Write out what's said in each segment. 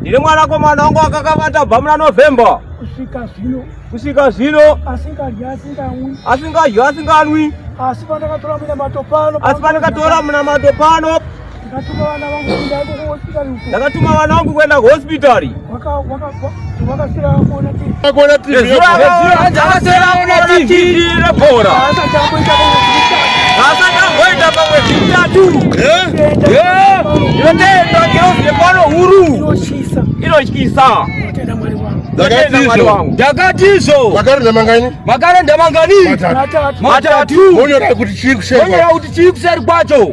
ndiri mwanakomana wangu akakavata bva muna november kusvika zvino kusvika zvino asingadyi asinganwi asingadyi asinganwi asi pandakatora munamato pano asi pandakatora munamato pano ndakatuma vana vangu kuenda kuhospitari ndakatuma vana vangu kuenda kuhospitari inotyisa ndakatizo makarenda mangani makarenda mangani matatu monyora kuti chii kuseri kwacho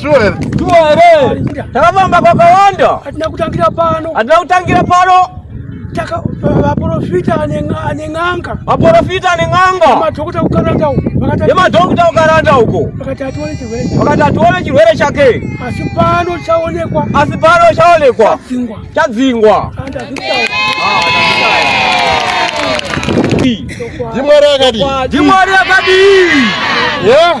Sure here? Sure here. Takafamba kwakawanda. Hatina kutangira pano. Hatina kutangira pano. Taka vaporofita ane n'anga. Vaporofita ane n'anga. Madhokuta kukaranda huko. Vakati madhokuta kukaranda huko. Vakati atione chirwere chake. Vakati atione chirwere chake. Asi pano chaonekwa. Asi pano chaonekwa. Chadzingwa. Chadzingwa. Ah, Dimwari akadii? Dimwari akadii? Yeah.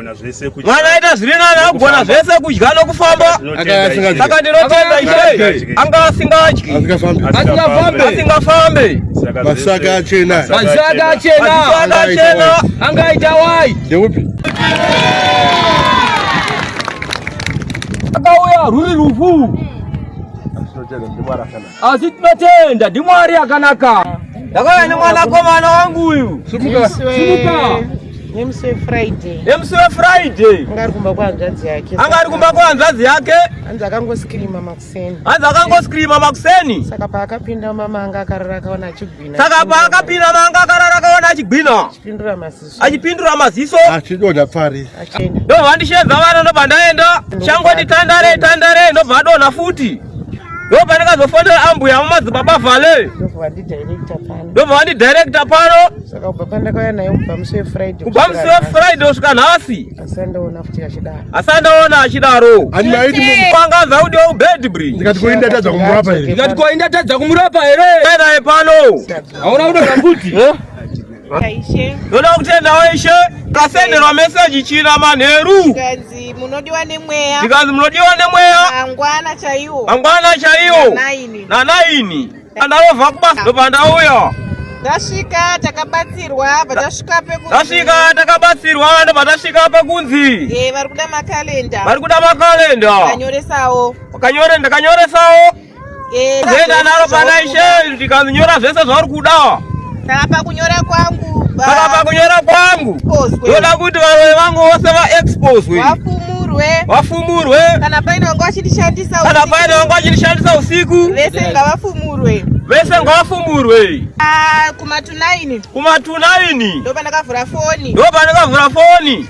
mwana aita zviri nani akugona zvese kudya nokufamba saka ndinotenda ishe anga asingadyi asingafambe masaka achena masaka achena anga aita wai ndeupi akauya ruri rufu Asi tinotenda ndiMwari akanaka. Ndakauya nemwanakomana wangu uyu. Simuka. Simuka. Nemusiwe Friday. Nemusiwe Friday. Anga ari kumba kwahanzvadzi yake. Anga ari kumba kwahanzvadzi yake. Hanzi akangoskirima makuseni. Hanzi akangoskirima makuseni. Saka paakapinda mama anga akarara akaona achigwina. Saka paakapinda mama anga akarara akaona achigwina. Chipindura masiso. achipindura maziso achidonha pari ndobva vandishedza vana ndobva ndaenda changoti tandare tandare ndobva adonha futi ndobva ndakazofonera ambuya vamadzibaba vale ndobva vandidirekta pano kubva musi wefriday kusvika nhasi asandaona achidaro angaza kuti weubedbri ndikati koindatadza kumurapa here ndikati koindatadza kumurapa here naye pano hauna kudoa kuti Ndoda kutendawo ishe tasenderwa meseji china manheru zvikanzi munodiwa nemweya zvikanzi munodiwa nemweya mangwana chaiwo mangwana chaiwo nanaini andarova kubasa ndobva ndauya tasvika takabatsirwa patasvika petasvika takabatsirwa ndobva tasvika pakunzi e vari kuda makalenda vari kuda makalenda kanyoresawo kanyorendakanyoresawo Kuenda nalo panaishe ndikanyora zvese zvauri kuda. Saka pakunyora kwangu. Saka pakunyora kwangu. Ndoda kuti varoyi vangu vose vaexposwe. Vafumurwe. Vafumurwe. Kana paine wangu achindishandisa usiku. Kana paine wangu achindishandisa usiku. Vese ngavafumurwe. Vese ngavafumurwe. Ah, kumatunaini. Kumatunaini. Ndopandakavhura foni. Ndopandakavhura foni.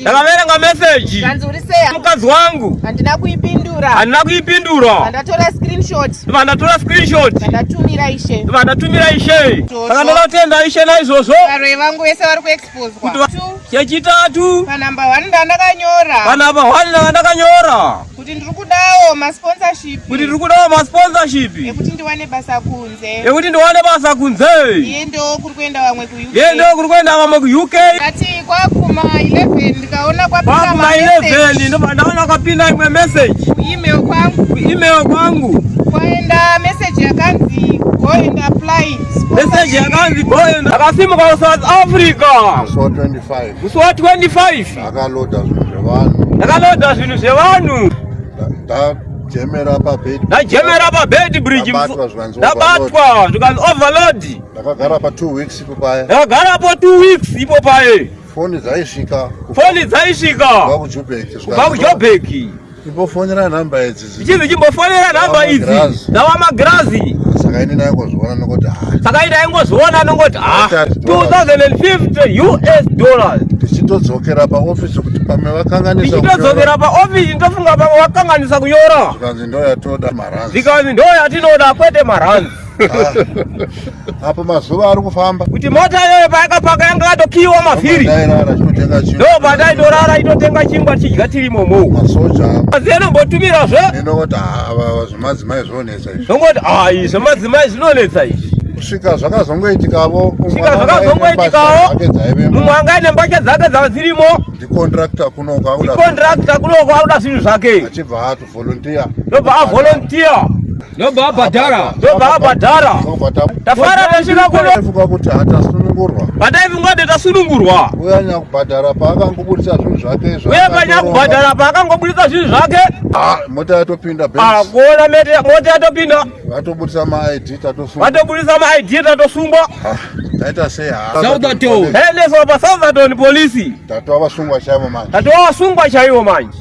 Ndakaverenga message. Kanzi uri sei? Mukadzi wangu. Handina kuipindura. Handina kuipindura. Vandatora screenshot. Vandatora screenshot. Vandatumira ishe. Vandatumira ishe. Saka ndakatenda ishe naizvozvo. Varoi vangu vese vari kuexposwa. Chechitatu. Panamba 1 ndandakanyora. Panamba 1 ndandakanyora. kuti ndiri kudawo masponsorship kuti ndiri kudawo masponsorship ekuti ndiwane basa kunze ekuti ndiwane basa kunze iye ndo kuri kuenda vamwe ku UK iye ndo kuri kuenda vamwe ku UK kati kwakuma 11 ndikaona kwapinda kwakuma 11 ndo ndaona kwapinda imwe message ku email kwangu ku email kwangu kwaenda message yakanzi go and apply message yakanzi go and akasimuka ku South Africa musi wa 25 musi wa 25 Ndakaloda zvinhu zvevanhu. Ndakaloda zvinhu zvevanhu. Ndajemera pabed. Ndajemera pabed bridge. Ndabatwa zvikanzi Ndabatwa zvikanzi overload. Ndakagara pa 2 weeks ipo paye. Ndakagara po 2 weeks ipo paye. Foni dzaisvika. Foni dzaisvika. Kubva kuJobeki. Kubva kuJobeki. Imbofonera nhamba idzi. Ichizi chimbofonera nhamba idzi. Ndawa magirazi. Saka ini ndaingozviona nokoti haa. Saka ini ndaingozviona nokoti haa. 2050 US dollars. Tichitodzokera paofisi kuti pamwe vakanganisa kunyora. Tichitodzokera paofisi ndofunga pamwe vakanganisa kunyora. Zvikanzi ndoyatoda maranzi. Zvikanzi ndoyatinoda kwete maranzi. Ah, apa mazuva ari kufamba kuti mota iyoyo payakapaka yanga yatokiiwa mavhiri ndo pandaindorara itotenga chingwa tichidya tiri momo azi anombotumira zve ndongoti ah, zvemadzimai zvinonetsa izvi ndongoti ai zvemadzimai zvinonetsa izvi kusvika zvakazongoitikavo svika zvakazongoitikavo mumwe anga aine mbatya dzake dzava dzirimo ndicontracta kunoko akuda zvinhu zvake achibva ato volunteer ndobva avolunteer ndobva abhadhara ndobva abhadhara tafara tasvika kunofunga kuti hatasunungurwa pataifunga kuti tasunungurwa uya nyakubhadhara paakangobudisa zvinhu zvake izvo uye panyakubhadhara paakangobudisa zvinhu zvake ah, mota yatopinda ah, kuona mete mota yatopinda vatobudisa maid tatosungwa vatobudisa maid tatosungwa ah, taita sei saudaton hey, lesova saudaton polisi tatova vasungwa chaivo manje tatova vasungwa chaivo manje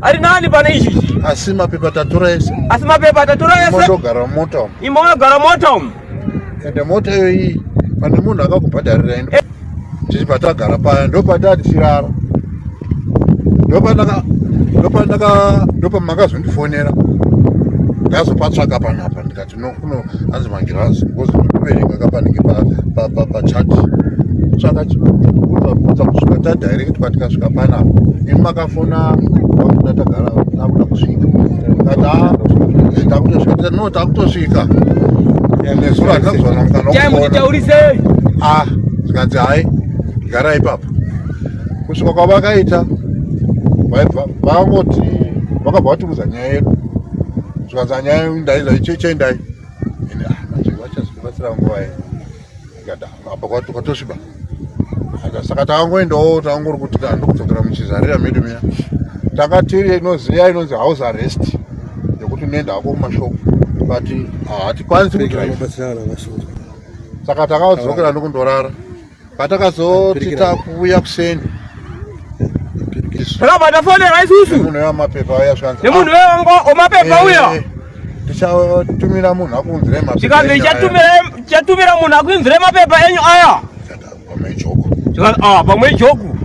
ari nani pane izvizvi asi mapepa tatora ese asi mapepa tatora ese imotogara mumota umu imogara mota umu ende mota iyo iyi pane munhu akakubhadharira ino eh. tiri patagara paya ndopatati chirara ndopanaka ndopanaka ndopamakazondifonera ndazopatsvaka panapa ndikati Kuno hanzi magirazi because ndoverenga kapanenge pachat tsvaka chibvunza kusvika tadirect patikasvika panapa ini makafona vakuda tagara takuda kusvika takutosvika no takutosvika nezuro hatina kuzona mukanautaurisei ah zvikanzi hai gara ipapa kusvika kwavakaita vaibva vangoti vakabva vatiudza nyaya yedu zvikanzi anyaya ndaizva icheche ndai ende ah, manje vachazikubatsira nguva ye ikada apa kwatosviba saka takangoendawo takangori kuti ndokudzokera muchizarira medu miya tanga tiri inoziya inonzi house arrest yekuti unoenda hako kumashopu but ah, hatikwanisi kudrive saka takadzokera ndokundorara patakazoti takuuya kuseni takabatafonera isusu munhu wemapepa uya zvanzi nemunhu wemapepa uya eh, tichatumira munhu akunzire mapepa tikanzi chatumira munhu akunzire mapepa enyu aya pamwe ijoku ah, pamwe ijoku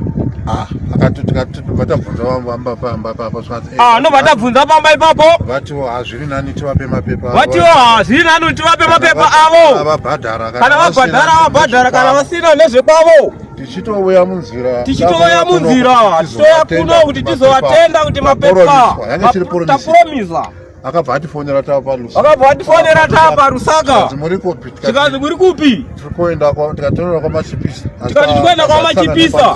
ah, akati tikati vatambvunza vamba pamba papa zvanzi Ah, no vatabvunza pamba ipapo. Vatiwo hazviri nani tivape mapepa. Vatiwo hazviri nani tivape mapepa avo. Vabhadhara kana vabhadhara vabhadhara kana vasina nezvekwavo. Tichitouya munzira. Tichitouya munzira. Tichitouya kuno kuti tizovatenda kuti mapepa. Tapromiza. Akabva atifonera tapa Lusaka. Akabva atifonera tapa Lusaka. Muri kupi? Tikazi muri kupi? Tiri kuenda kwa tikatorera kwa Machipisa. Tikati tikuenda kwa Machipisa.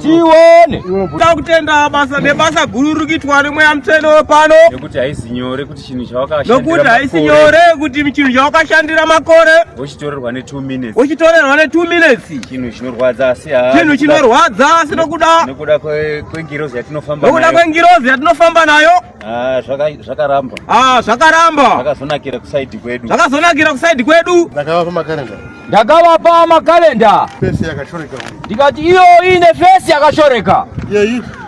tione ta kutenda basa nebasa guru riri kuitwa nemweya mutsvene wepano nekuti haisi nyore kuti chinhu chawakashandira haisi nyore kuti chinhu chawakashandira makore wochitorerwa ne two minutes wochitorerwa ne two minutes chinhu chinorwadza asi chinhu chinorwadza asi nokuda nokuda kwengirozi yatinofamba nayo nokuda kwengirozi yatinofamba nayo Ah, zvakaramba ah, zvakaramba zvakazonakira kusaidi kwedu zvakazonakira kusaidi kwedu ndakavapa makarenda ndakavapa makarenda fesi yakashoreka ndikati iyo ine fesi yakashoreka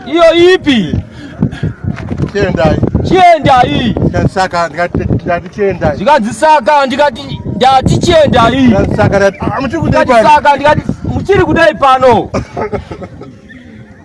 iyo ipi chiendai chiendai saka ndikati chiendai zvikanzi saka ndikati ndati chiendai saka ndikati muchiri kudai pano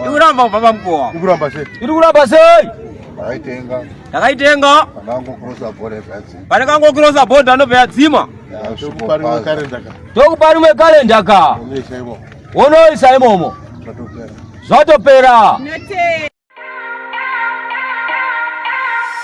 ndikuramba baba mkova ndikuramba sei ndikuramba sei ndakaitenga ndakaitenga pandangokirosa bhodha yadzima pandangokirosa bhodha anobva yadzima tokupa rimwe kalenda ka wonoisa imomo zvatopera